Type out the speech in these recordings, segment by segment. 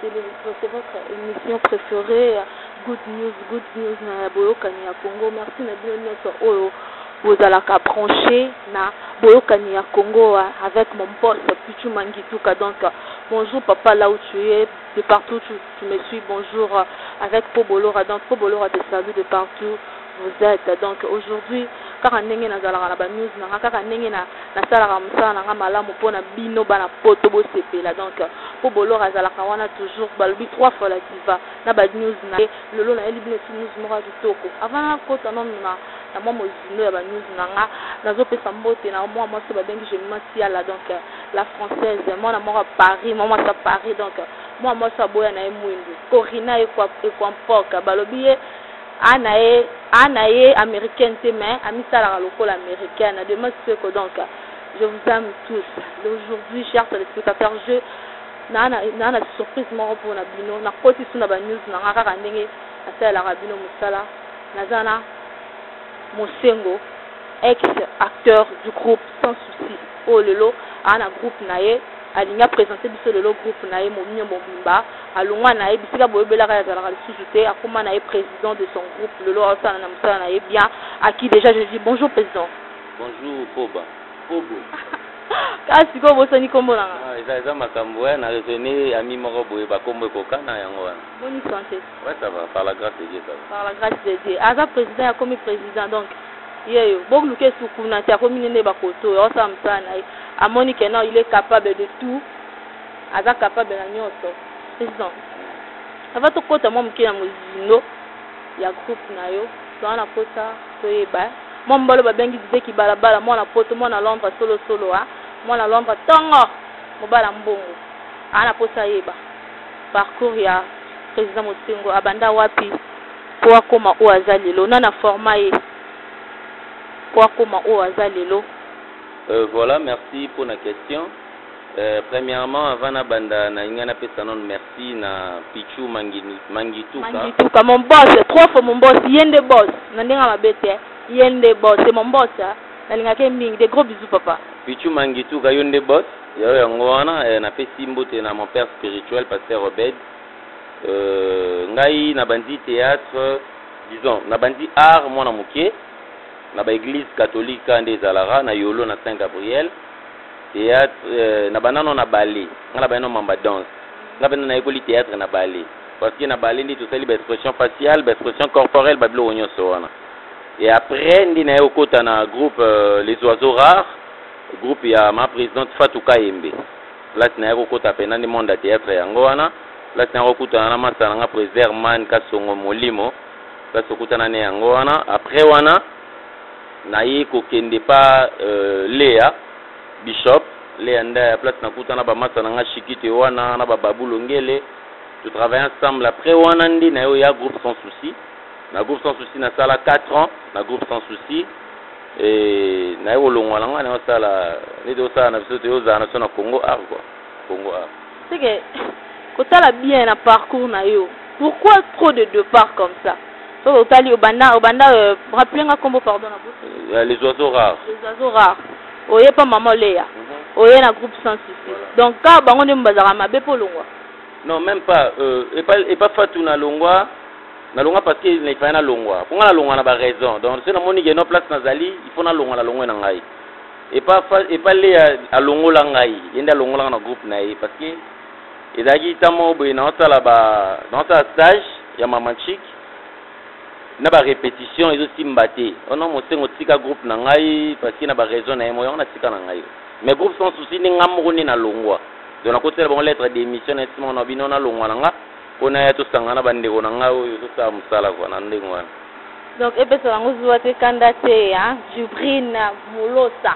Celezko c'est votre emission preferee ya good news good news na ya boyokani ya Congo merci na bino nionso oyo bozalaka branche na boyokani ya Congo avec mon boss Pichu Mangituka donc bonjour papa là où tu es de partout tu, tu me suis bonjour avec Pobolora donc Pobolora te salue de partout Vous etes donc aujourd'hui kaka ndenge nazalaka na ba news na nga kaka ndenge na nasalaka mosala na nga malamu mpo na bino bana poto bosepela donc mpo bolor azalaka wana toujours balobi trois fois la diva na ba news na ye lelo nayeli bino ti news moko ya kitoko avant nakota nanu na na mwa mozindo ya ba news na nga nazopesa mbote na mwa mwasi babengi gemima siala donc la française mwana moko ya paris mwa mwasi ya paris donc mwa mwasi aboya na ye mwindu corina ekwampoka balobi ye A na ye, A na ye americaine te mais amisalaka lokola americaine de mode ce que donc je vous aime tous d'aujourd'hui chers telespectateurs je na na na na surprise moko pona bino na koti suna ba news na nga kaka ndenge nasalelaka bino musala naza na Mosengo ex acteur du groupe sans souci oyo lelo a na groupe na ye Alingi a presenter biso lelo groupe na ye moinho mobimba. Alongua na ye bisika boyebelaka ye azalaka lisusu te. Akoma na ye president de son groupe. Lelo aosala na mosala na ye bien. A qui dejà je dis bonjour president. Bonjour Poba. Pobo. Kaka sikoyo obosani kombo na nga? Eza makambo eh na raisonner ami moko boye ba kombo ekokana yango wana. Boni santé? Ouais ça va par la grace de Dieu ça va. Par la grace de Dieu aza president akomi president donc yeyo boluka esu kuna te akomi nini yeba koto oyo aosala mosala na ye amoni que non il est capable de tout aza capable na nyonso president ava tokota mwa moke na mozindo ya groupe na yo toa na pota toyeba mwa mobalo babengi dideki balabala mwana poto mwana londre solosolo a mwana londre ntongo mobala mbongo aa na posa ayeba Parcours ya President Mutsingo, abanda wapi po akoma oyo aza lelo? Nani a forma ye po akoma oyo aza lelo? Euh voilà merci pona question euh premièrement avant na banda na linga na pesa nanu merci na pitshou manginu mangituka mangituka mon boss trop fo mon boss ye nde boss na ndenge mabe te ye nde boss c'est mon boss na lingaka ye mingi des gros bisous papa pitshou mangituka yo nde boss Yayo yango wana eh, na pesi mbote na mon père spirituel pasteur Obed euh, ngai na bandi théâtre disons na bandi art mwana moke na ba église catholique nde ezalaka na yolo na Saint Gabriel théâtre euh, na banano na ballet ngai na banano mamba danse ngai pena nayekoli théâtre na ballet parce que na ballet nde tosali ba expression faciale ba expression corporelle ba biloko nyonso wana et après nde naye kokota na groupe euh, les oiseaux rares Groupe ya ma presidente Fatou Kayembe place naye kokota pena nde monde ya theatre yango wana place naye kokutana na masta na nga president Herman Kasongo Molimo place okutana ne yango wana après wana naye kokende pa euh, Lea Bishop Lea Ndaya place nakutana ba masta na nga Shikito Ewana na ba Babu Longele to travailler ensemble après wana nde naye oya groupe sans souci na groupe sans souci nasala 4 ans na groupe sans souci Eeh naye kolongwa na nga naye osala neti osala na biso te ozala na biso na congo art quoi congo art. C'est que kotala bien na parcours na yo pourquoi trop de depart comme ça soki otali obanda obanda euh, rappeler nga kombo pardon na bout euh, les oiseaux rares les oiseaux rares oye pa maman leya mm -hmm. oye na groupe sans souci voilà. donc kaka bango nde bazalaka mabe mpo olongwa non même pas euh, epa, epa fatu na longwa Na longwa parce que il fallait na longwa. Pour nga na longwa na ba raison. Donc ce na moni que non place na zali, il faut na longwa na longwe na ngai. Et pas et pas le a longola ngai. Yende a longola na groupe na ye parce que ezalaki tamo boye na sala ba na sala stage ya maman chic na ba répétition ezo simba te oh non mosengo tika groupe na ngai parce que na ba raison na ye moyo na tika na ngai mais groupe sans souci ni nga moko ni na longwa donc na kotela bango lettre d'émission na sima na bino na longwa na nga Po naya tosangana na ba ndeko na ngai oyo tosala musala quoi na ndenge wana. Donc epesa bango zuwa te kanda te hein Djibril Molosa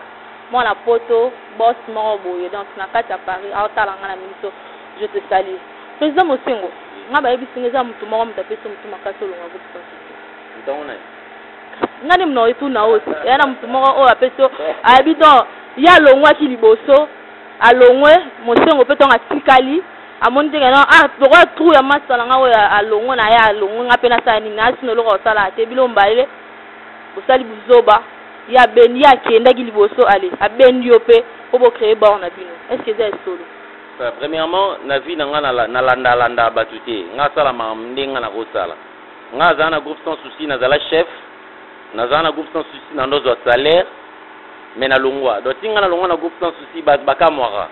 mwana poto boss moko boye donc na kati ya Paris azo tala nga na miso je te salue President Mosengo nga ba yebisi nga eza mutu moko mutu apesi yo mutu makasi olonga groupe sans succès Mutu ango nani? Nga nde mutu nako tuna yo eza na mutu moko oyo apesi yo ayebi donc ye alongwaki liboso alongwe Mosengo pe tongo atikali amoni te kena ah lokola trou ya masta na nga oyo alongo na ye alongo nga mpe nasala nini asi na eloko ya kosala te bino mobale bosali buzoba ye abendi ye akendaki liboso ale abendi yo mpe mpo bocreye bor na bino est ce que eza esolo euh, premièrement na vie na nga nalandalanda bato te nga asala makambo nde nga nakosala nga azala na groupe sans souci nazala chef nazala na groupe sans souci na ndozwa salaire me nalongwa donc ti nga nalongwa na groupe sans souci bakamwaka ba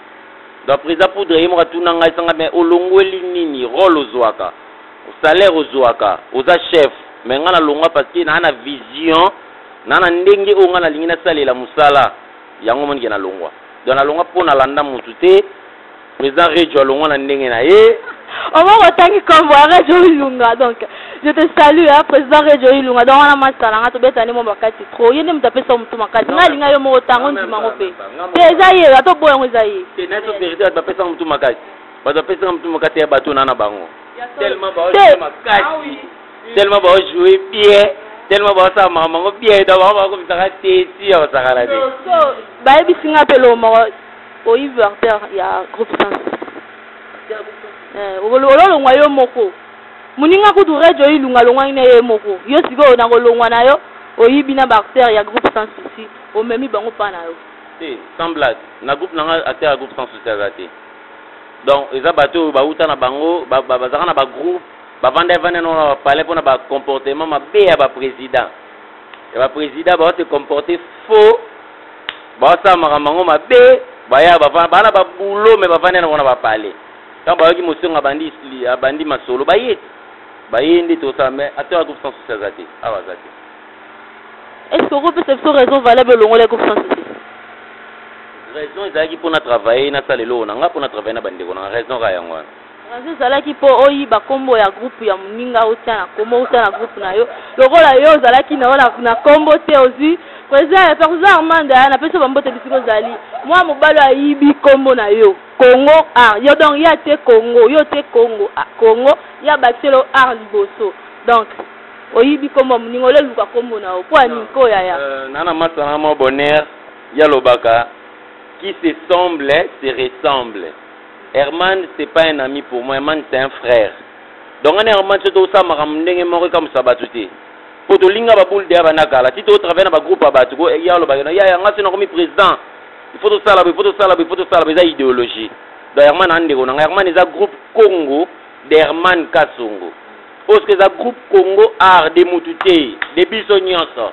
Donc President Poudre ye moko atuna ngai sanga mais olongweli nini role ozuaka salaire ozuaka oza chef mais ngai nalongwa parce que naa na vision naa na ndenge oyo ngai nalingi nasalela mosala yango monike nalongwa donc nalongwa mpo nalanda motu te President Rejo alongwa na ndenge na ye omo kotangi kombo ya Rejo Ilunga donc Je te salue hein, président Rejo Ilunga donc wana match na nga tobeta nde mwa makasi trop ye nde moto apesa motu makasi nga alinga yo moko tango ndima yango mpe te eza ye ata oboya yango eza ye te nayeso verité bato bapesaka motu makasi bato bapesaka motu makasi ya bato na na bango tellement baojoue makasi tellement baojoue bien tellement baosala makambo yango bien donc bango bakomisaka te si ya kosakana te bayebisi nga mpe loo moko oyivi artère ya groupe sens ololongwa yo moko Muninga kutu Rejo Ilunga alongwaki na ye moko. Yo sikoyo na kolongwa na yo oyibi na ba acteurs ya groupe sans souci omemi bango epa na yo. Te sans blague na groupe na nga acteur ya groupe sans souci aza te donc eza batu oyo bawuta na bango bazalaka na ba groupe bavanda evanda na ba palais pona ba comportement mabe ya ba president ya ba president ba te comporter faux ba sala makambo yango mabe baya bavanda bana ba boulot mais bavanda na bango na ba palais Tango bayaki Mosengwo abandi abandi masolo baye baye nde tosala mais acteur ya groupe sans souci aza te awa aza te. Est-ce que okopesa biso raison valable olongola groupe sans souci? Raison ezalaki mpo na travailler nasala eloko na nga mpo na travailler na bandeko na nga raison kaka yango wana. Raison ezalaki mpo oyiba nkombo ya groupe ya moninga otya na nkombo otya na groupe na yo lokola yo ozalaki na yo na nkombo te ozwi president ya perzo armanda napesi yo bambote bisika ozali mwa mobali ayibi nkombo na yo. Congo ah yo donc ya te congo yo te congo ah congo ya bakisela yo art liboso donc oyibi kombo ya moninga ole luka kombo na yo mpo ya nini ko yaya Euh, nana masta na mwa bonheur ya lobaka qui se semble se ressemble herman c'est pas un ami pour moi herman c'est un frère donc nga na herman so tosala makambo ndenge moko ekamwisa bato te mpo tolinga baboule deya banda kala ti totravaille na bagroupe ya bato ko ya lobaka na yaya nga so nakomi président il faut tosala boye il faut tosala boye il faut tosala boye eza idéologie donc herman aa ndeko na ngai herman eza groupe congo de herman kasongo oyo soki eza groupe congo art de mutu te de biso nyonso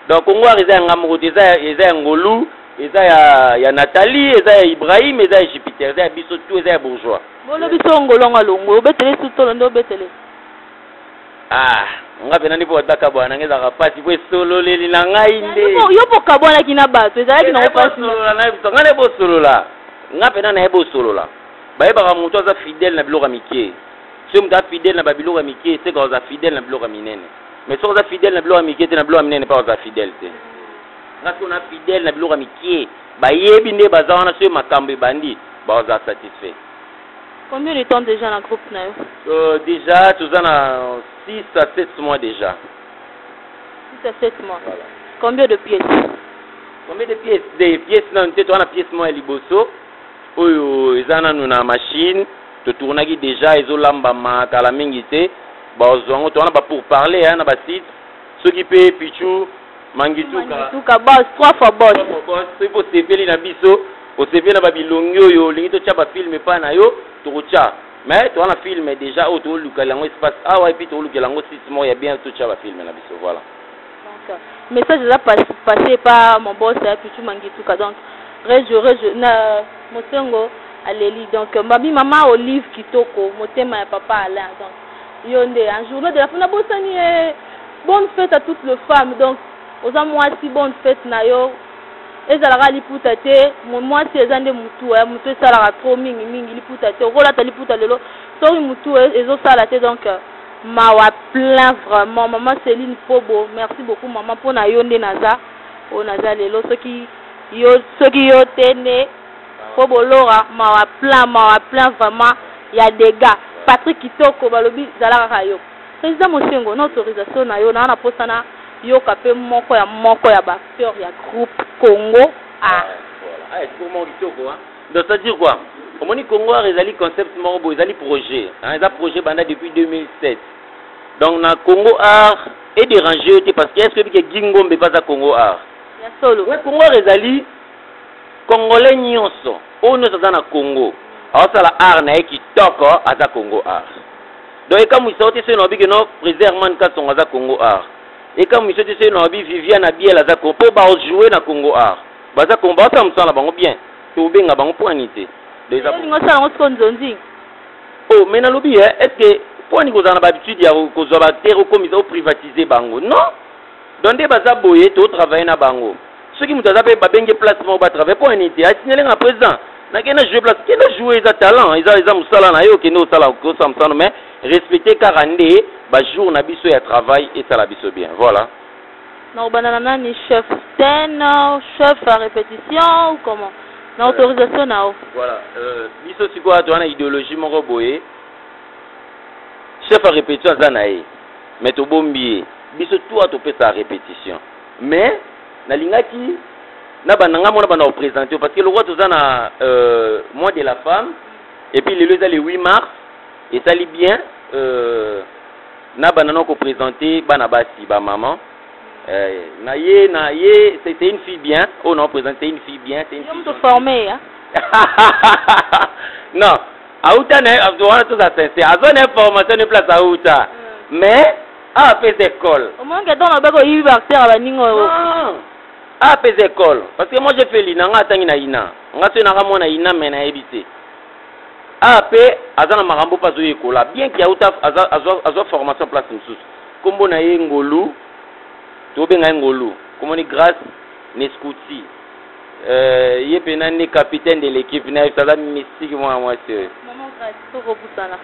donc congo art eza ya ngai moko te eza ya ngolu eza ya, ya nathalie eza ya ibrahim eza ya jupiter eza ya biso tu eza ya bourgeois bolobi so ngolongo alongwe obetele sutolo nde obetele Ah, nga mpe nani mpo bato bakabwana na ngai ezalaka mpasi mpo esololeli na ngai nde yo mpo okabwanaki na bato ezalaki nango mpasisolola na biso ngai naye bosolola nga mpe na naye bosolola bayebaka moto aza fidele na biloko ya mike soki moto aza fidele na babiloko ya mike eseka oza fidele na biloko ya minene mais soki oza fidele na biloko ya mike te na biloko ya minene mpe oza fidele te nga soki na fidele na biloko ya mike bayebi nde baza wana soki makambo ebandi baoza satisfait Combien de temps dejà na groupe na yo? Euh, dejà toza na 6 à 7 mois dejà. 6 à 7 mois. Voilà. Combien de pièces? Combien de pièces? Des pièces nanu te toza na pièce moko ya liboso oyo eza nanu na machine totournaki dejà ezolambama kala mingi te bazwa yango toza na ba pour parler na basite soki pe pichu mangituka mangituka boss trois fois boss trois fois boss soki po sepeli na biso osepeli na ba bilongi oyo olingi totia ba film epa na yo tokotia mais toza na film déjà oyo tolukela yango espace awa epuis tolukela yango site moko ya bien totia ba film na biso voilà donc message eza passe epa mon boss ya pichu mangituka donc rejo rejo na mosengo aleli donc mbabi mama olive kitoko motema ya papa alain donc Yo nde hein, journée de la femme nabosani ye. Bonne fête à toutes les femmes. Donc oza mwasi bonne fête na yo. Ezalaka liputa te, mwasi eza nde mutu, eh, mutu esalaka trop mingi mingi liputa te. Okolata liputa lelo, soki mutu e, ezosala te donc euh, mawa plein vraiment. Maman Céline Pobo, merci beaucoup maman pona yo nde naza. Oyo naza lelo soki yo soki yo te nde po bolora mawa plein mawa plein vraiment ya degat Patrick kitoko balobi zala kaka yo president mosengo na autorisation na yo naza na posa na yoka pe moko ya moko ya ba acteurs ya groupe congo art Ah, eh, discours moko kitoko hein. Donc ça dire quoi Omoni Congo Art ezali concept moko boye ezali projet. Hein, eza projet banda depuis 2007. Donc na Congo Art et déranger yo te parce que est-ce que bike Gingombe pas à Congo Art Ya solo Ouais, Congo Art ezali Congolais nionso oyo nionso aza na Congo aosala art na ye kitoko aza Congo art. Donc ekamwisa yo te soki nalobi ke no president Herman Kasongo aza Congo art. Ekamwisa yo te soki nalobi Viviane Abiel aza Congo po bao jouer na Congo art. Baza Congo baosala mosala na bango bien. Tobenga bango po ani te. Donc eza Olingi osala yango sikoyo nzonzi? Oh mais nalobi eh est ce que po ani kozala na ba habitude ya kozwa ba acteurs okomisa o privatiser bango? Non! donc nde baza boye to travailler na bango soki moto aza mpe babenge place moko batravaille mpo nini te asignale nga président nakende na joue place kende joue eza talent eza eza mosala na yo okende osala osala mosano mais respecte kaka nde bajour na biso ya travail esala biso bien voilà nakobanda na nani chef scène chef ya répétition ou comment na euh, autorisation na yo voilà euh, biso sikoyo toza na idéologie moko boye chef ya répétition aza na ye Mais tobombi ye biso toi topesa repetition mais nalingaki na banda ngai mona banda kopresente yo parce que lokola toza na euh, mois de la femme et puis lelo eza le 8 mars esali bien euh, na banda na kopresente bana basi bamama euh, na ye na ye c'est une fille bien oyo oh, na kopresente c'est une fille bien c'est une fille formée hein? non Auta na wana toza sincère. Azwa na information ne place auta. Hmm. Mais a pesa école. Omonke donc obeko yibi bacteur ya baninga oyo. A pesa école parce que moi j'ai fait l'INA nga atangi na INA. Nga to na mwana INA mais na yebi te. A pe aza na makambo pa zo yekola bien que auta azwa azwa formation place mosusu. Kombo na ye Ngolu. Tobenga ye Ngolu. Komoni grâce Nescuti. Euh, ye mpena nde capitaine de l'équipe na biso aza mystique mwana mwasi oyo maman grace tokobusana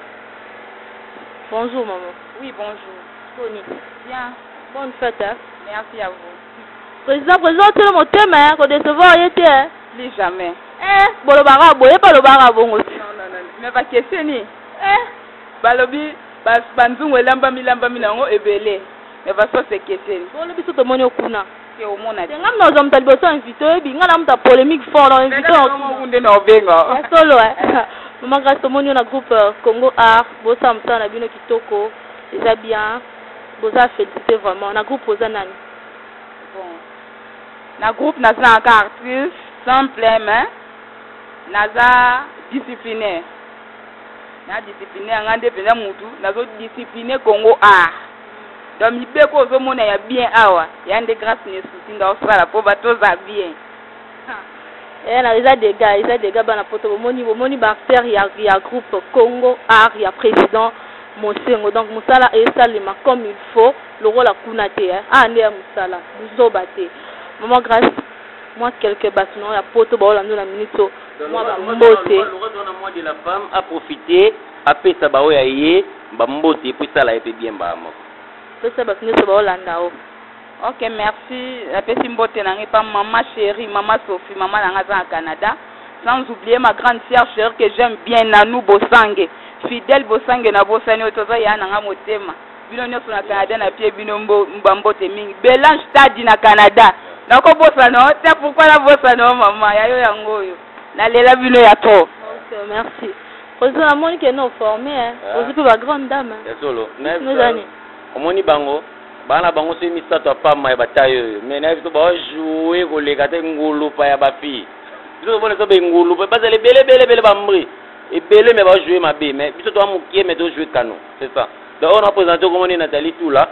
bonjour maman oui bonjour toni bien bonne fête hein? merci à vous président président otele motema ya kodecevoir ye te plus jamais eh bolobaka boye mpe olobaka bongo te mais bakeseni eh balobi banzungu elambami lambami na yango ebele mais basosi ekeseni bolobi so tomoni okuna te omona te ngai nazwa moto ya liboso ya invité oyebi ngai na moto ya polémique fort na invité nde na obenga ya solo mama grâce tomoni yo na groupe euh, congo art bosala mosala na bino kitoko eza bien boza félicité vraiment na groupe oza nani bon na groupe naza na ka artiste simple mais naza disciplinaire na disciplinaire ngai nde mpenza motu nazodiscipline congo art donc mibeko ozo mona ya bien awa ya nde grace ne souci nga osala po ba toza bien eh na eza dega eza dega bana poto bomoni bomoni ba acteur ya ya groupe congo art ya president mosengo donc musala esalema comme il faut lokola kuna te eh. ah nde ya musala buzoba te maman grace moi quelques bato na ya poto baolanda na minito mwa bambote a profite apesa baoyo ya ye Ba mbote epuis sala ye pe bien mbala moko. Pesa batu nioso bao landa yo. Ok merci na pesi mbote na nga epa maman cherie maman Sophie maman na nga aza na Canada sans oublier ma grande sœur cherie que j'aime bien Nanou Bosange fidèle Bosange na bosani yo te oza yaya na nga motema bino nioso na Canada na pie bino mbo ba mbote mingi Belange Taddy na Canada nako bosana yo te pourquoi na bosana yo maman ya yo yango oyo na lela bino ya trop ok merci Ozo na moni ke no forme hein. Ah. Ozo pe ba grande dame. Hein. Ya solo. Mais nozani. Omoni bango bana bango soki misato ya pamba ya bataille oyo mais nayebi biso bajoue koleka te ngulupa ya bafille biso tomona biso bengulupa bazala ebele ebele ebele bambri ebele me bajoue mabe mais biso toa mokie me tojoue kano c'est ça donc oyo napresente okomoni natali tula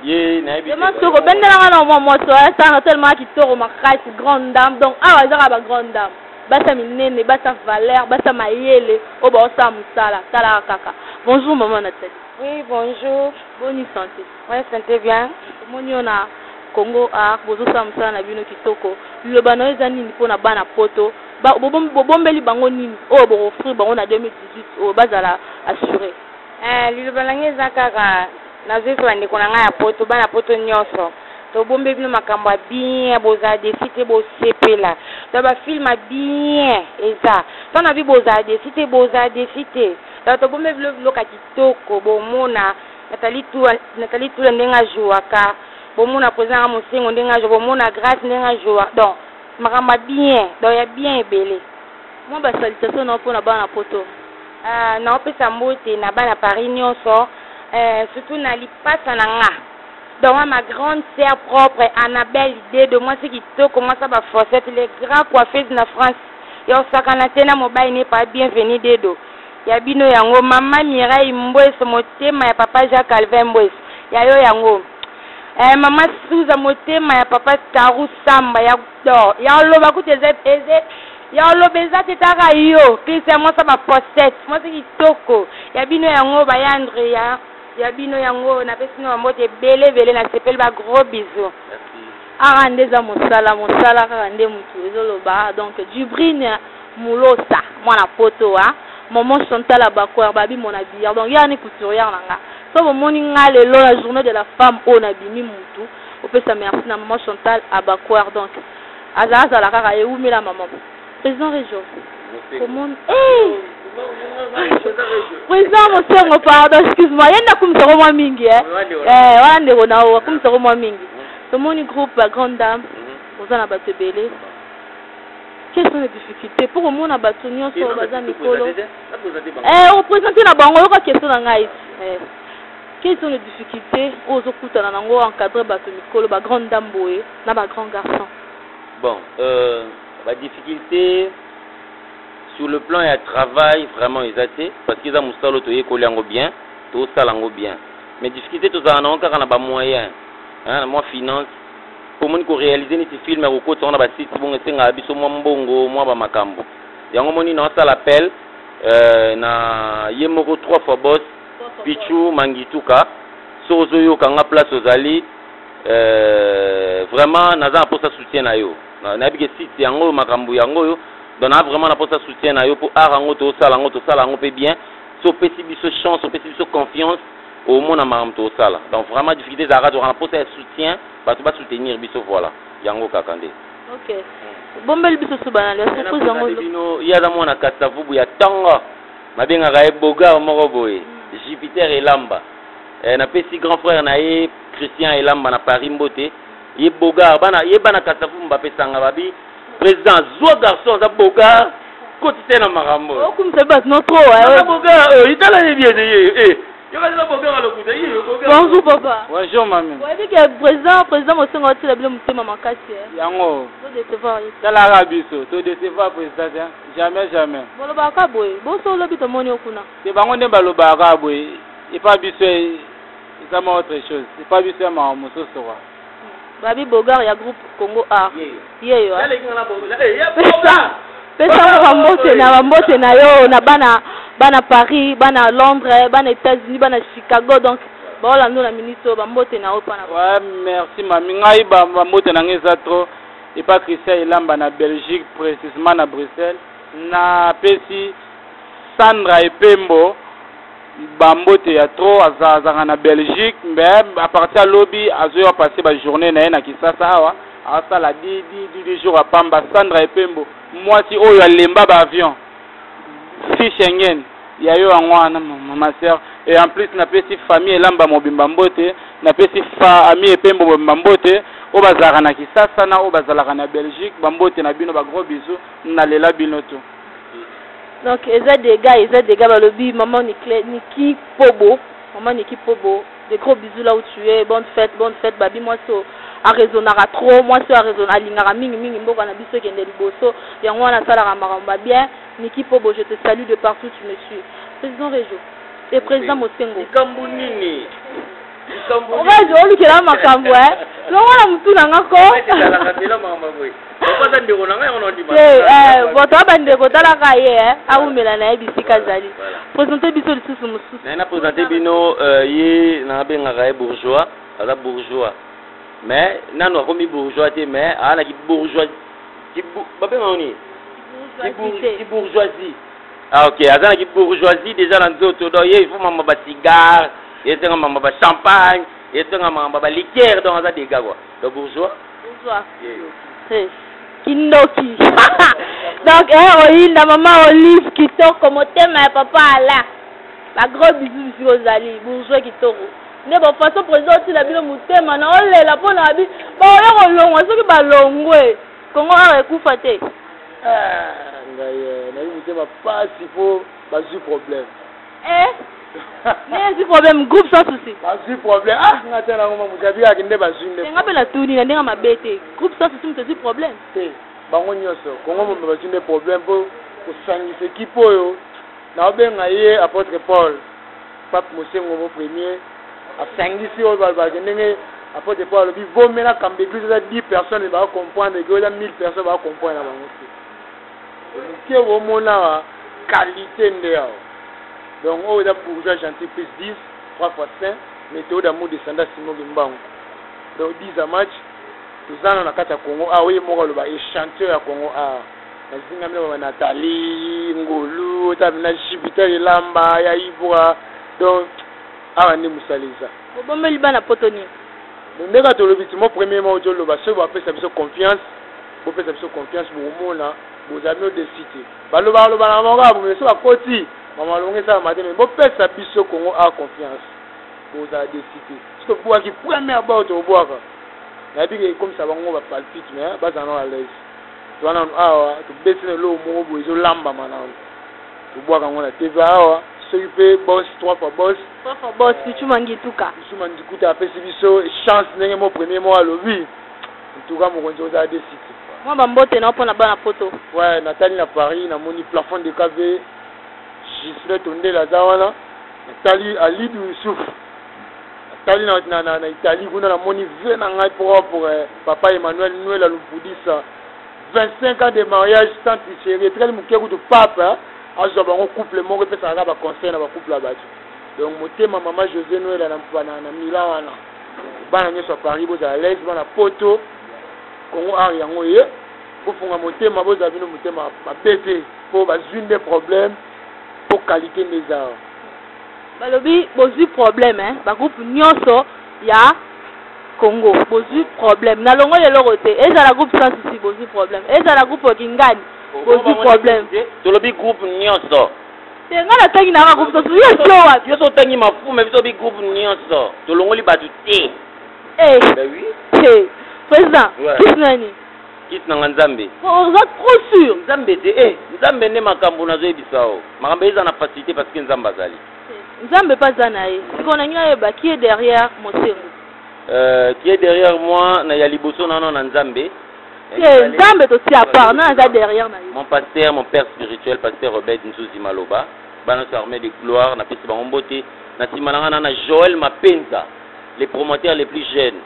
ye nayebi vraiment soko obendela nga na mwa mwasi oyo asanga tellement kitoko makasi grande dame donc awa ezaka ba grande dame basi ya minene basi ya valeur basi ya mayele oyo baosala mosala talaka kaka bonjour maman natali oui bonjour boni santé oui santé bien omoni yo na congo art bozosala mosala na bino kitoko liloba na yo eza nini mpo na bana poto bobombeli bango nini oyo bokoffrir bango na 2018 oyo bazala assure eh, liloba na ngai eza kaka Nazoyebisa ba ndeko na ngai ya poto, bana poto nionso, tobombeli bino makambo ya bien, bozala deçu te, bosepela. Donc ba films ya bien eza. Tant na vie bozala deçu te, bozala deçu te. Donc tobombeli bino biloko ya kitoko, bomona Nathalie Tula, Nathalie Tula ndenge a jouaka, bomona President na ngai Mosengo ndenge a joua, bomona Grace ndenge a joua. Donc makambo ya bien, donc ya bien ebele. Mwa ba salutations na yo mpo na bana poto. Ahh nao pesa mbote na bana Paris nionso ehh surtout na lipasa na nga Dowa ma grande sœur propre Annabelle Dedo mwasi kitoko mwasi ya ba fosette le grand coiffeuse na France ya osakana te na mobali ne pa Bienvenue Dedo ya bino yango maman Mireille Mbueso motema ya papa Jean Calvin Mbueso ya yo yango ehh maman Souza motema ya papa Carou Samba ya Dor ya loba kutu eza eza ya loba eza te taka yo Christian mwasi ya ba fosette mwasi kitoko ya bino yango ba yandre ya ya bino yango na pesi bino ba mbote ebele ebele na sepeli ba gros bisous aka nde eza mosala mosala kaka nde mutu ezo loba donc Dubrine Mulosa mwana poto wa Momo Chantal Abakoir babi mon habilleur donc ya ni couturière na nga so bomoni nga lelo la journée de la femme oyo na bimi mutu Opesa merci na maman Chantal Abacuar donc aza azala kaka ye wumela maman Président Rejo comment eh Président Mosengo pardon excuse-moi ye nakumisa ko mwa mingi eh eh wana ndeko na yo akumisa ko mwa mingi tomoni groupe ba grande dame oza na bato ebele quelles sont les difficultés mpo komona bato nyonso oyo baza mikolo opresente na bango oyoka question na ngai Quelles sont les difficultes oyo ozo kutana nango o encadrer batu mikolo ba grandes dames boye na ba grands garçons? Bon euh, ba difficultes sur le plan ya travail vraiment eza te parce que eza musala oyo toyekoli yango bien, tozo sala yango bien mais difficultes tozalaka nango kaka na ba moyens hein, na mwa finance po omoni ko realiser neti film ya kokotisa yango na ba sites bongo esengaka biso mwa mbongo mwa ba makambu yango omoni naosala appel euh, na ye moko trois fois boss Pichu Mangituka soki ozoyoka nga place ozali euh, vraiment naza na posa soutien na yo nayebi ke site yango oyo makambo yango oyo donc naa vraiment na posa soutien na yo mpo art yango tosala yango tosala yango mpe bien so opesi biso chance opesi biso confiance omona makambo tosala donc vraiment difficulté ezalaka tozalaka na posa ya soutien bato basoutenir biso voilà yango kaka nde okay. Hmm. bombeli biso subanalbino ye aza mwana kasavubu ya tanga Babengaka ye Beaugard moko boye, Jupiter Elamba. Eh, napesi grand frère na ye Christian Elamba na Paris mbote. Ye Beaugard, bana ye bana Kasavubu bapesanga babi président zwa garçon aza Beaugard kotisa ye na makambo. Okumisa oh, batu no trop. Eh. Beaugard, oh, itala ye bien ye. Eh. eh. Bonjour papa. Bonjour mamie. Vous dit que président président Mosongo atila bino motema makasi. Hein. Yango. To décevoir. Tala rabiso, to décevoir président. Hein. Jamais jamais. Bolobaka kaka boye. Bo so lobi tomoni yo kuna. Te bango nde balobaka kaka boye. Epa biso eza ma autre chose. Epa biso ya mawa mosusu kwa. Babi Bogar ya groupe Congo Art. Yeyo. Yale ah. kinga na bongo. Eh, ya Bogar. Pesa ngo ba mbote na ba mbote na yo na bana bana Paris, bana Londres, bana États-Unis, bana Chicago donc baola ndo na minute oyo bambote na yo mpo na ouais, merci mami ngai bambote na ngai eza trop Epa Christian Elamba na Belgique precisement na Bruxelles. Na pesi Sandra Epembo ba mbote ya trop aza azanga na Belgique mais à partir ya lobi azoya passer ba journée na ye na Kisasa awa asala di di di di jour apamba Sandra Epembo mwasi oyo alemba ba avion Fille Schengen ya yo yango wana ma sœur et en plus napesi famille elamba mobimba mbote napesi famille epembo mobimba mbote oyo bazalaka na kisasa na oyo bazalaka na belgique bambote na bino bagros bisou nalela bino to donc eza dega eza dega balobi mama niki pobo mama niki pobo Des gros bisous là où tu es, bonne fête, bonne fête, babi mwasi oyo a raisonnaka trop, mwasi oyo a raisonne, alingaka mingi mingi mboka na biso ekende liboso, yango wana asalaka makambo ba bien, Nicky Pobo je te salue de partout tu me suis. President Rejo et President Mosengo. Likambo nini? Likambo nini? Rejo olukela makambo eh, longola mutu na nga ko. Ezalaka mbela makambo ya boye. okoza ndeko na ngai yango naondima te eh, bato ya bandeko otalaka ye eh, awumela na ye bisika azali présente biso lisusu mosusu naye na présente bino euh, ye nabengaka ye bourgeois aza bourgeois mais nanu akomi bourgeois te mais aa na kibourgeois babengaka nini kibourgeoisie ah, ok aza na kibourgeoisie déjà na nzoto donc ye ifo mama bacigare esenga mama bachampagne esenga mama baliquere donc aza dega kua Donc bourgeois Bourgeois. Hey, kindoki. Donc, eh, oyinda maman Olive kitoko motema ya papa Alain. Ba gros bisous bisous ozali bourgeois kitoko. Nde ba façon président otila bino motema na olela mpo na bi ba oya kolongwa soki balongwe Congo awa ekufa te. Ah, ngai eh, nayebi motema pasi mpo bazwi problème. Eh, nde ezwi problème groupe sans souci bazwi problème ah nga te nango ma moto abiyaki nde bazwi nde nga mpe natuni na ndenge mabe te groupe sans souci moto ezwi problème te bango nyonso kongo mombe bazwi nde problème mpo kosangisa ekipe oyo naobenga ye apôtre paul pape mosengo mo premier asangisi oyo balobaki ndenge apôtre paul alobi vomela kambe eglise eza 10 personnes bakomprendre eke oza 1000 personnes bakomprendre na bango te Muke bo mona qualite nde awa. Donc oyo eza bourgeois gentil plus 10 3 fois saint meteo d'amour descendant Simon Kimbangu. Donc 10 à match toza na kati ya Congo awa ye moko aloba echantillon ya Congo awa. Nazingami na ba Nathalie Ngolu otabi na Jupiter Elamba ya Ibra. Donc awa nde musala eza. Bobombeli bana poto nini? Ndenge tolobi ti mo premier mo ozo loba soki bapesa biso confiance Bopesa biso confiance bokomona bozali no desite. Balobaka lobaka na bango kaka boye so bakoti makambo malonga esalama te me bopesa biso Congo a confiance bozala desite. So tobwaki première bord tokobwaka nayebi ke ekomisa bango ba palpite me bazala no alaise. Toza nanu awa tobeti na eloko moko boye ezolambama nanu tobwaka yango na TV awa soki mpe boss trois fois boss trois fois boss Pichuma Ngituka Pichuma Ngituka apesi biso chance ndenge mo premier moko alobi En tout cas mokonzi ozala de site. Mwa ba mbote na yo mpo na bana poto. Ouais na tali na Paris na moni plafond de cave Gislin Tondele aza wana na tali Alid Youssouf na tali na, na, na, na Italie kuna na moni vie na ngai propre papa Emmanuel Nwela Lumpudisa 25 ans de mariage sans tricherie etikali moke kutu pape azwa bango couple moko epesaka kaka ba conseil na ba couple ya bato donc motema mama José Nwela na, na, na Milan wana bana nyoso ya paris bozala alaise bana poto congo ar yango ye bofunga motema bozala bino motema mabe te mpo bazwi nde problème mpo qualité nde eza awa balobi bozwi problème eh? bagroupe nyonso ya congo bozwi problème nalongoli eloko te ezala groupe sans souci bozwi problème ezala groupe kingani bozwi problème tolobi groupe nyonso te nga natangi nanga groupe totu yo zowa yo so otangi mafume biso bi groupe nyonso tolongoli bato te eh. ben oui eh. président kisi nani kisi nanga nzambe oza trop sûr nzambe te e nzambe nde makambo nazoyebisa yo makambo eza na facilité parce que nzambe azali nzambe mpe aza na ye sikoyo nangi nayeba qui est derrière mosengo euh, qui est derrière moi na ya liboso nano na nzambe Eh, nzambe tosi apart na aza derrière na mon pasteur mon père spirituel pasteur obed nzuzi maloba bana so armée de gloire na pesi bango mbote na sima na ngana na joël mapenza les promoteurs les plus jeunes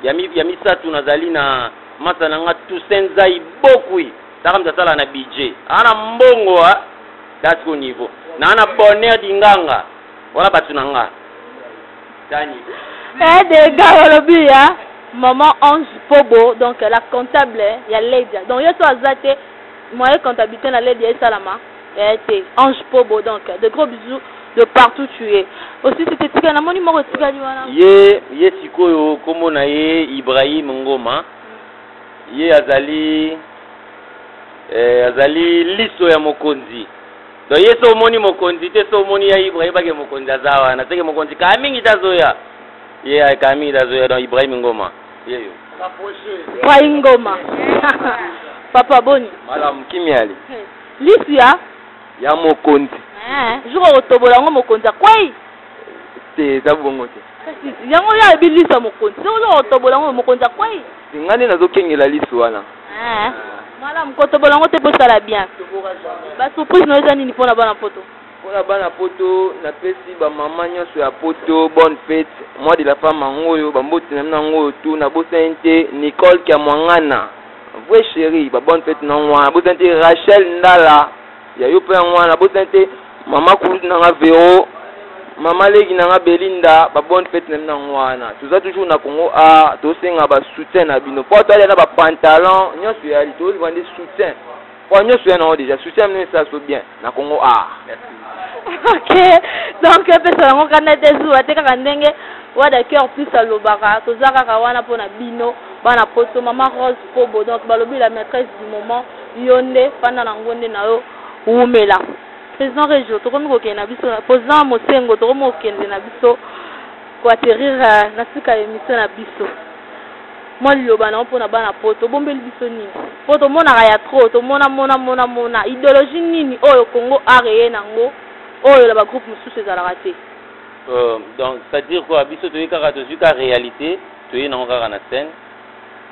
ya mi ya misatu nazali na masa na nga toussaint zai bokui taka mta sala na budget ana mbongo a ah, that's go niveau na ana bonheur dinganga Wana batu na nga. Dani. Eh de gars olobi ya maman Ange Pobo donc la comptable ya Ledia. Donc yo so azate moyen comptabilité na Ledia esalama. Eh te Ange Pobo donc de gros bisous de partout tu es aussi c'était tika na moni moko etikali wana ye ye sikoyo kombo na ye ibrahim ngoma ye azali eh, azali liso ya mokonzi Donc ye so omoni mokonzi te so omoni ya Ibrahim bake mokonzi aza wana seke mokonzi kaa mingi te azoya ye yeah, kaa mingi te azoya donc Ibrahim Ngoma yeyo Ibrahim Ngoma papa boni malamu kimiali hmm. lisu ya ya mokonzi eh, jour okotobola yango mokonzi akwei te eza bongo te yango ya ebi lisu ya mokonzi soki okotobola yango mokonzi akwei Nga nde nazo kengela lisu wana. Eh, malamu kotobola yango te mpo esala bien. Ba surprise na yo eza nini mpo na bana poto? Mpo na bana poto napesi ba mama nyonso ya poto bonne fete mois de la femme yango oyo bamboti na bino yango oyo tu nabosani te Nicole Kiamwangana vrai chéri ba bonne fete na yango wana nabosani te Rachel Ndala ya yo mpe yango wana botani te mama kulutu na nga vero mama leki na nga belinda ba bonne fete na bino yango wana toza toujours na congo a tosenga ba soutien na bino mpo toalia na bapantalon nyonso eyali tozwa nde soutien mpo nyonso ya nango déjà soutien bino esala so bien na congo a ok donc epesa yango kanda te zuwa te kaka ndenge wada cœur plus alobaka toza kaka wana mpo na bino bana poto mama rose kobo donc balobi la maîtresse du moment Yonde fanda na ngonde na yo wumela. President Regio tokomi kokende na biso President Mosengo tokomi kokende na biso ko atterrir euh, na suka ya emission na biso. Mwa liloba na yo mpo na bana poto obombeli biso nini? Mpo tomonaka ya trop tomona mona mona mona ideologie nini oyo Congo art eye na yango oyo na ba groupe mosusu ezalaka te. Euh, donc c'est-à-dire quoi biso toye kaka tozwi ka réalité toye na yango kaka na scène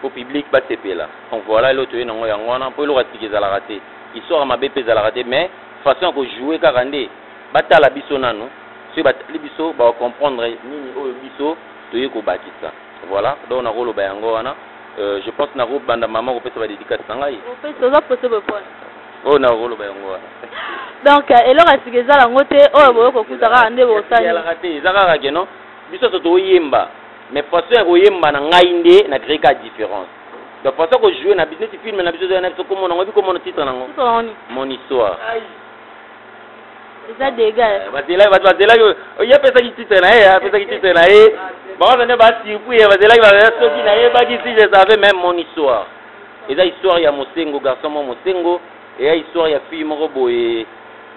po public ba sepela donc voila eloko toye nango yango wana po eloko ya sika ezalaka te histoire ya mabe pe ezalaka te mais façon ya ko jouer kaka nde ba tala biso nanu soki ba tali biso bako comprendre nini oyo biso toye ko bakisa voila donc nako loba yango wana euh, je pense nako banda maman ko pesa ba dedicace na ngai opesa oza poso bo pona oyo nako loba yango wana donc euh, eloko ya sika ezala yango te oyo boye ko kuta kaka nde bo sali ezalaka te eza kaka ke non biso so to yemba Mais façon ya koyemba na ngai nde na créer ka différence. Donc façon ko jouer na biso neti film na biso zoya na biso komo na ngobi komo na titre na ngo. Mon histoire. Eza dégâts. Eh, bazela bazela yo oh, ya pesa ki titre na ye, ya pesa ki titre na ye. Ba on ne ba tipu ya bazela ki ba soki na ye ba ki si je savais même mon histoire. Eza histoire ya Mosengo garçon mo Mosengo Eya histoire ya fille moko boye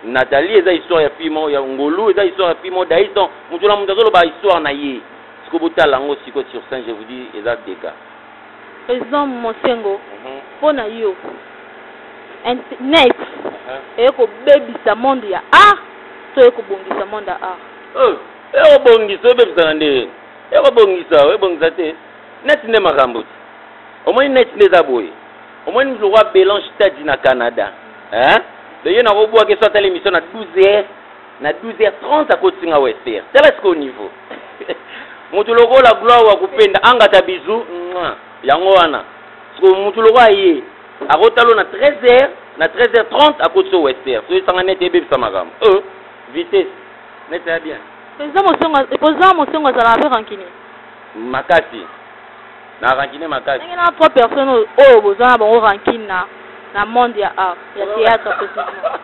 Nathalie eza histoire ya fille moko ya Ngolu eza histoire ya fille moko Daïs donc mutu na mutu azoloba histoire na ye siko botala yango siko sur scène je vous dis eza dega Président Monsengo mhm. mpo na yo internet uh-huh. eye kobebisa monde ya art to eye kobongisa monde ya art oh, ekobongisa oyebebisana nde ekobongisa oyebongisa te net nde makambo te omoni net nde eza boye omoni mutu lokola belange tadi na canada eh? leye nakobwaka eso atala émission na 12 heures na 12 heures 30 akotisi nga wester tala sikoyo niveau mutu lokola gloire wa kupenda angata bizu yango wana sikoyo mutu lokola ye akotalo na 13 heures na 13 heures 30 akotisi o wester soki esanga nete ebebisa makambo euh, vitesse nete ya bien eza mosongo kozala mpe rancune makasi Na rancune makasi. Ndenge na trois personnes oyo oyo boza na bango rancune na na monde ya art ya théâtre précisément.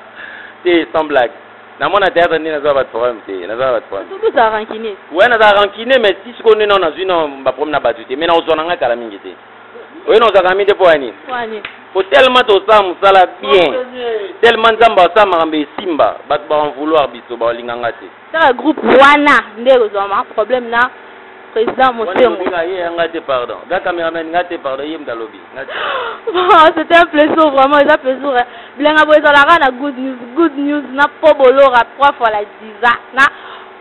te sans blague. Na mona théâtre nde naza ba problème te. Naza ba problème. Tout ça rancune. Ouais naza rancune mais ti siko nde na nazui na ba problème na batu te mais na ozona nga kala mingi te. Oyo na ozaka mingi te po ani. Wani. Po tellement to sa musala bien. Tellement nzamba sa makambe simba. Batu ba en vouloir biso ba linganga te. Kaka groupe wana nde ekozwama problème na président Mosengo. Nga ye nga te pardon. Ga cameraman nga te pardon ye mdalobi. Nga te. Bon, c'était un plaisir vraiment, eza plaisir. Hein. Bilenga bo ezalaka na good news, good news na po bolora trois fois la diza. Na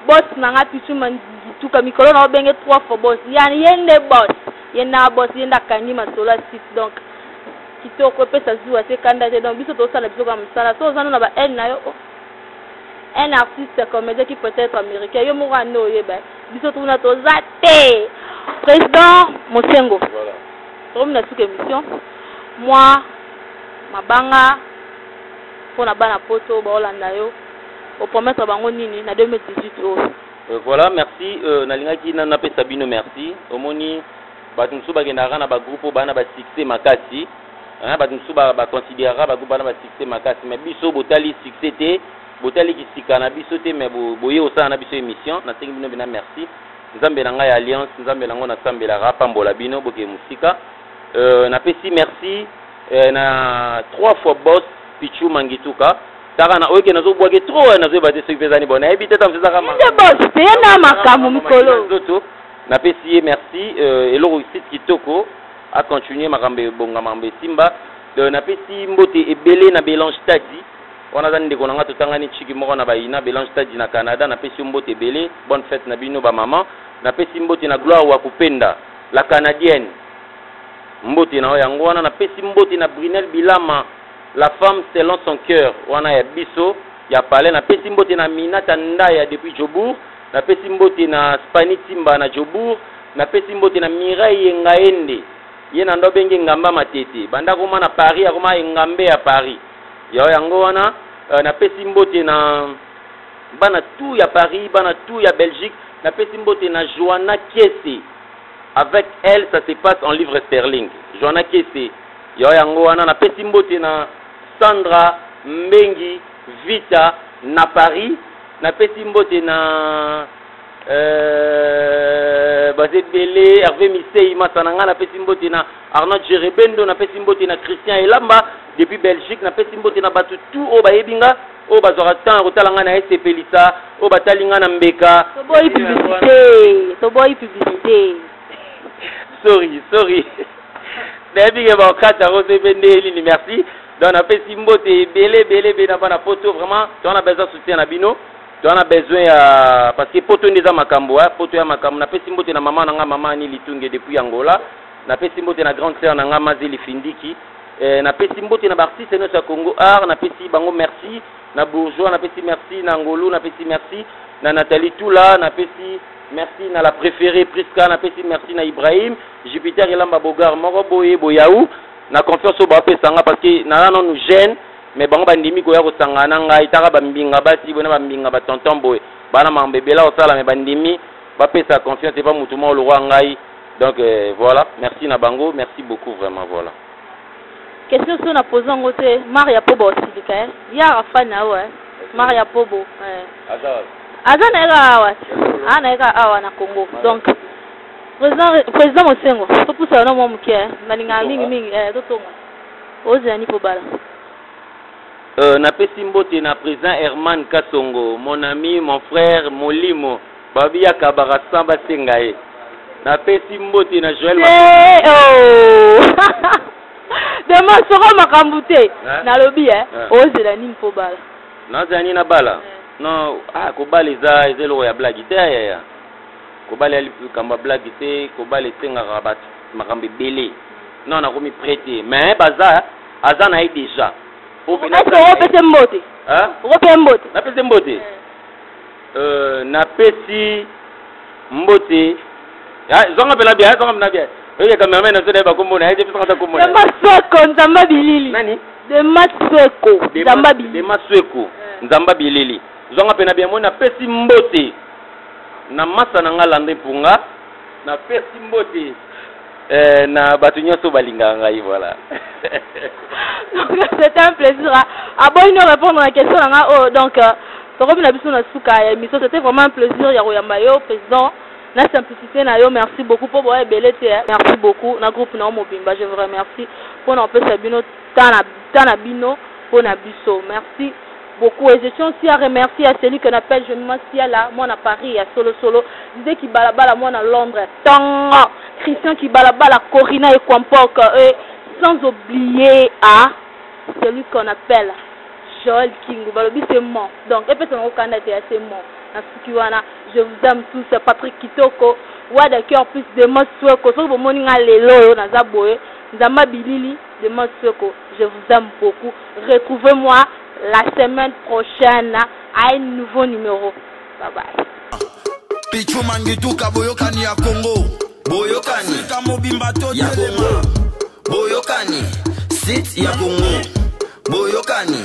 boss na nga pichu mandituka mikolo na obenge trois fois boss. Yani yende boss. Yenda boss yenda kangi masolo site donc kitoko epesa zuwa se kanda te donc biso tosala biso kaka mosala so oza no na ba haine na yo oh. un artiste comédien qui peut être américain yo moko ande oyeba biso tuna toza te président mosengo voilà. tokomi na suka émission mwa mabanga mpo na bana poto baolanda yo opromettre bango nini na 2018 oyo euh, voilà merci euh, nalingaki nanu napesa bino merci omoni bato mosusu bakendaka na bagroupe oyo bana basuccès makasi Hein, bato mosusu ba, ba consideraka ba groupe wana ba succès makasi, mais biso botali succès te, botali kisika na biso te, mais bo, boye osala na biso emission. Nasengi bino bina merci. Nzambe na ngai ya alliance, Nzambe na ngo nasambelaka apambola bino bokeye mosika. Euh, napesi merci euh, na trois fois boss Pichu Mangituka taka na oyeke nazobwake trop eh, nazoyeba te soki mpe ezani bona nayebi te ta mosusu ezaka nde boss te na makambo mikolo nzoto napesi ye merci euh, eloko site kitoko A continuer makambo ebonga makambo esimba. Donc napesi mbote ebele na Belange Taddy. Wana aza ndeko na nga totangani chiki moko na bayina Belange Taddy na Canada napesi yo mbote ebele. Bonne fete na bino ba maman. Napesi mbote na Gloire Wakupenda la canadienne. Mbote na yo yango wana napesi mbote na Brunel Bilama la femme selon son coeur wana ya biso ya palais napesi mbote na Aminata Ndaya depuis Jobourg. Napesi mbote na Spani Timba na Jobourg, napesi mbote na Mireille Engaende, ye na ndobe nge Ngamba Matete, banda akoma na Paris akoma Engambe ya Paris. Yao yango wana euh, napesi mbote na bana tout ya Paris, bana tout ya Belgique, napesi mbote na Joanna Kiese. Avec elle ça se passe en livre sterling. Joanna Kiese. Yao yango wana napesi mbote na Sandra Mbengi Vita na Paris Na pesi mbote na euh, baza ebele herve misei masa na ngai napesi mbote na arnold jerebendo napesi mbote na christian elamba depuis belgique napesi mbote na bato tout oyo bayebi nga oyo bazwaka temps ya kotala ngai na esepelisa oyo batali ngai na mbeka toboyi publicité toboyi publicité sorry sorry nayebi ke bakata yango soki mpe nde elini merci donc napesi mbote ebele ebele ebele na bana poto vraiment toza na besoin soutien na bino toza na besoin ya parce que poto nde eza makambo a poto ya makambo napesi mbote na mama na ngai mama ani litunge depuis angola napesi mbote na grande sœur na ngai mazi lifindiki eh, napesi mbote na baartiste nyonso ya congo art napesi bango merci na bourgeois napesi merci na ngolu napesi merci na nathalie tula napesi merci na la préférée prisca napesi merci na ibrahim jupiter elamba bogar moko boye boyau na confiance oyo bapesa nga parce que naza nanu jeune mais bango bandimi koya kosangana na ngai taka bambinga basi boye na bambinga batonton boye bana makambo ebela kosala mais bandimi bapesa confiance epa motu moko lokola ngai donc euh, voilà merci na bango merci beaucoup vraiment voilà question so na pose yango te maria pobo osilika eh? yara fan na yo eh? maria pobo eh. aza na ye kaka awa aza na ye kaka awa na congo donc President President Mosengo, topusa na mwa moke, eh. nalingaka mingi mingi eh, totonga ozela ni pobala. Euh, napesi mbote na président Herman Kasongo, mon ami, mon frère, molimo, babi ya kabaka sans basenga ye. Napesi mbote na Joël hey, eh, oh. Dema soko makambo te. Eh? Nalobi eh, eh. ozela nini po bala? Nazela nini na bala? Eh. Non, ah kobala eza eza eloko ya blague te ya ya. Kobala ya likambo ya blague te kobala esengaka batu makambo ebele non nakomi près te mais baza aza na ye deja opese mbote okope mbote napese mbote eh. euh, napesi mbote ah, zonga mpena bia zonga mpena bia oye cameraman na biso naye bakombo na ye te biso kata kombo dema sweko nzamba bilili nani dema sweko nzamba bilili dema sweko eh. nzamba bilili zonga mpena bia moi napesi mbote Na masa na nga Landry Mpunga. Na pesi mbote. Eh, na bato nyonso balingaka ngai voilà. C'est un plaisir. Aboyi no répondre na question na nga oyo oh, donc euh, tokomi na biso na suka ya émission. C'était vraiment un plaisir ya koyamba yo président na simplicité na yo merci beaucoup mpo boya ebele te eh. merci beaucoup na groupe na yo mobimba je vous remercie mpo na kopesa bino temps na bino mpo na biso merci beaucoup et je tiens aussi à remercier à celui qu'on appelle je me siala moi na Paris ya solo solo disait qui balabala moi na Londres tanga Christian qui balabala Corina et Kwampoka et sans oublier à celui qu'on appelle Joel Kingu balobi c'est mon donc et personne au Canada c'est assez mon na suki wana je vous aime tous Patrick Kitoko Wada cœur plus de moi souhaite ko soki bomoni nga lelo oyo naza boye nzamba bilili de Mosoko je vous aime beaucoup retrouvez moi la semaine prochaine à un nouveau numéro bye bye Pichu Mangituka boyokani ya Congo boyokani Afrika mobimba to ya Congo boyokani site ya Congo boyokani